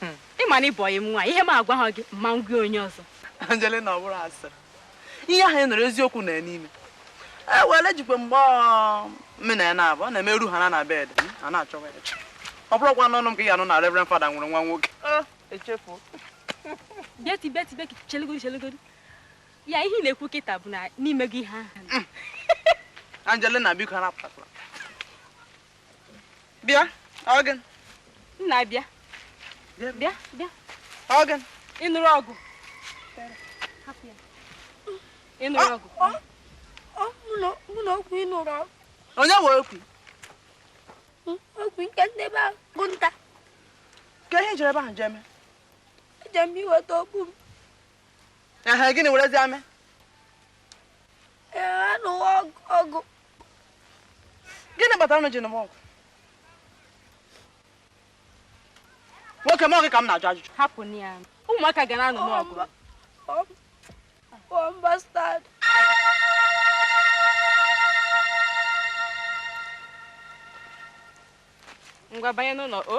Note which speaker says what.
Speaker 1: Hmm. Ị ma na ị bụ ọyị m nwaanyị, ihe m agwaha gị, ama m gwa onye ọzọ. Angelina ọ
Speaker 2: bụrọ asịrị. Ihe ahụ ị nụrụ eziokwu na ya n'ime. E were jikwa mgbe mụ na ya na-abụ, ọ na-emeru ha na na bed, a na-achọwa ya. Ọ bụrọkwa n'ọnụ m ka ị ga-anụ na Reverend Father nwere nwa nwoke. Oh,
Speaker 1: echefuo. Beti beti beti chelegodi chelegodi. Ya ihe ị na-ekwu kịta bụ na n'ime gị ihe ahụ. Angelina
Speaker 2: biko arapụtakwala. bịa Ogenna
Speaker 1: bịa bịa
Speaker 2: bịa Oge ị nụrụ
Speaker 1: ọgụ ị nụrụ ọgụ
Speaker 3: mụ na Okwu ị nụrụ ọgụ onye nwe
Speaker 2: Okwu
Speaker 3: Okwu nke ndị be Agụnta kee
Speaker 2: ihe i jere ebe ahụ jee mee eje m
Speaker 3: iweta okpu m ehe
Speaker 2: gịnị werezia mee
Speaker 3: a nụwa ọgụ
Speaker 2: gịnị kpatara unu ji nụwa ọgụ nwoke m ọ gị ka m na-ajụ ajụjụ hapụnụ ya
Speaker 1: ụmụaka ga na-anụ ọgụ
Speaker 3: One
Speaker 1: bastard. ngwa banye n'ụlọ o